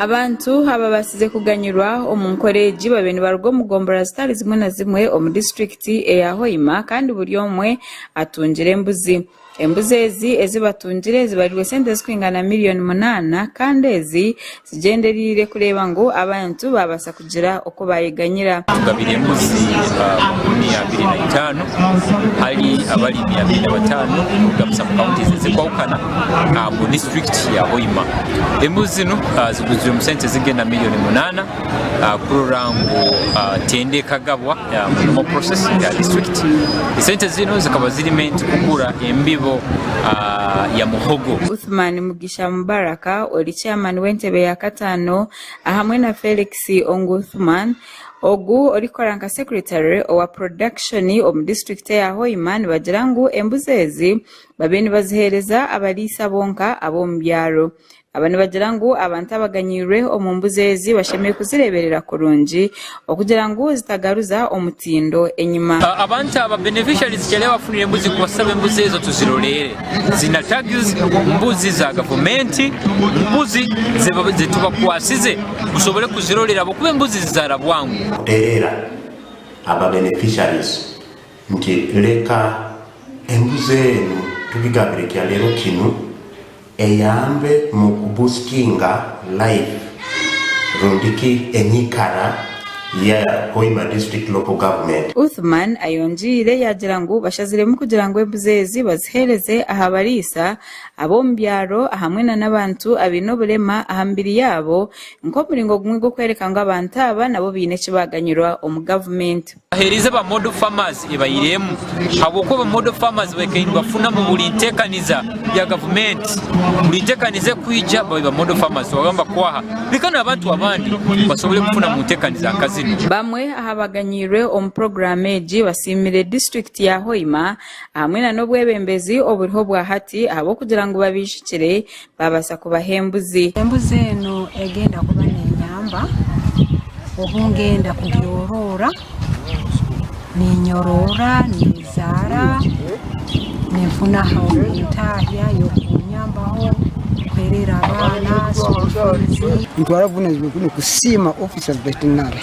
Abantu ababaasize kuganyirwa omu nkora egi babiire nibaruga omu gombolola zitari zimwe na zimwe omu disiturikiti eya Hoima kandi buri omwe atungire embuzi. Embuzi ezi ezi batungire zibarirwe sente zirikwingana miriyoni munaana kandi ezi Tugyendereire kureeba ngu abantu baabaasa kugira oku baayeganyira. Tugabire embuzi makumi abiri na itaano hali abarimi abiri na bataano kugaruza mu counties ezikwahukana mu district ya Hoima. Embuzi zinu ziguzirwe omu sente ezigenda million munana kurora ngu tender ekagabwa mu normal process ya district. Esente zinu zikaba zirimu ente kugura embibo ya muhogo. Uthman Mugisha. Sha Mubaraka ori chairman w'entebe ya kataano ahamwe na Felix Onguthman ogu orikukora nka secretary owa production omu district eya Hoima nibagira ngu embuzi ezi babe nibaziheereza abariisa bonka ab'omu byaro aba nibagira ngu abantu abaganyirwe omu mbuzi ezi bashemereire kuzireeberera kurungi okugira ngu zitagaruza omutindo enyima. Abantu aba beneficiaries kyareeba bafunire embuzi kubaasa aba embuzi ezo tuziroreere ziine tags, mbuzi za gavumenti, mbuzi zetubakwasize mushobore kuziroreera ahabw'okuba embuzi zizaara bwangu. Kutereera aba beneficiaries Nti, Leka embuzi enu tugigabire ekya reero kinu eyambe mu kubusitinga life rundi ki enyikara ya Hoima District Local Government. Uthman ayongiire yaagira ngu bashaziremu kugira ngu embuzi ezi baziheereze aha bariisa ab'omu byaro ahamwe na n'abantu abaine oburema aha mibiri yaabo nk'omuringo gumwe gw'okworeka ngu abantu aba nabo baine eki baaganyirwa omu gavumenti. Baheereza aba Model Farmers ebairemu ahabw'okuba aba Model Farmers baikaire nibafuna mu buri ntekaniza ya gavumenti. Buri ntekaniza ekwija babaire ba Model Farmers tibaba nibakwaha bika n'abantu abandi basobole kufuna mu ntekaniza nka zinu. Bamwe aha baganyiirwe omu puroguraamu egi basiimire disiturikiti ya Hoima hamwe na n'obwebembezi oburiho bwa hati ahabw'okugira ngu babaijukire baabaasa kubaha embuzi. Embuzi eno egenda kuba nenyamba obu ngenda kugyoroora, ninyoroora, nezaara, ninfuna entaahya y'okunyambaho, kuheerera abaana school fees. Nitwara obuvunanizibwa bwine kusiima ofiisi ya vetinare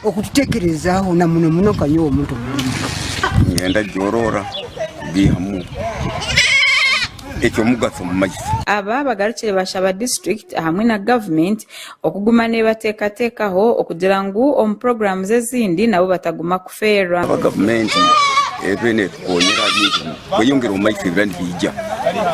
okututekerezaaho na muno muno nka nyowe omuntu omurema. Ngyenda gyoroora. gaihamu ekyomugatso omu magita. Aba bagarukire bashaba district ahamwe na government okuguma nebatekatekaho okugira ngu omu programs ezindi nabo bataguma kufeerwa. Aba gavumenti ebe netukonyera ahaby'enjuma kweyongera omu magita ebibira nibiija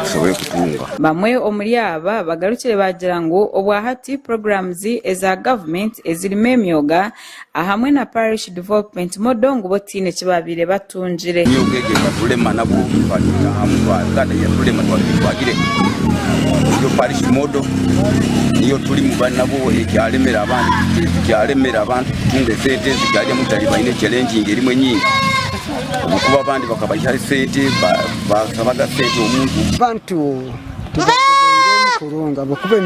tusobore kutunga. Bamwe omuri aba bagarukire bagira ngu obwahati programs eza government ezirimu emyoga, ahamwe na Parish Development Model ngu bo tihaine eki baabaire batungire. Nyowe obwengye bwa rulema nabwo twatunga aha mutwe Uganda ya rulema twabire twagire niyo Parish Model niyo turimu bari nabwo ekyaremera abantu ekyaremera abantu kutunga esente ezikyaryamu butari baine chalenging erimu enyingi obwokuba abandi bakabaihaho esente basabaga sente omuntu. Abantu tubagobeiremu kurungi ahabw'okuba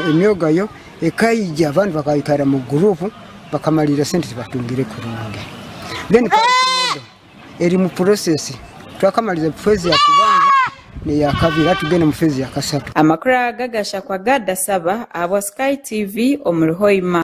emyoga yo Ekaija abandi bakaikara mu group bakamalirira sente tibatungire kurungi then parking eri mu process twakamaliriza phase ya kubanza neyakabiri hati tugenda mu phase ya kasatu. Amakuru aga gashakwa gada saba ahabwa Sky TV omuri Hoima.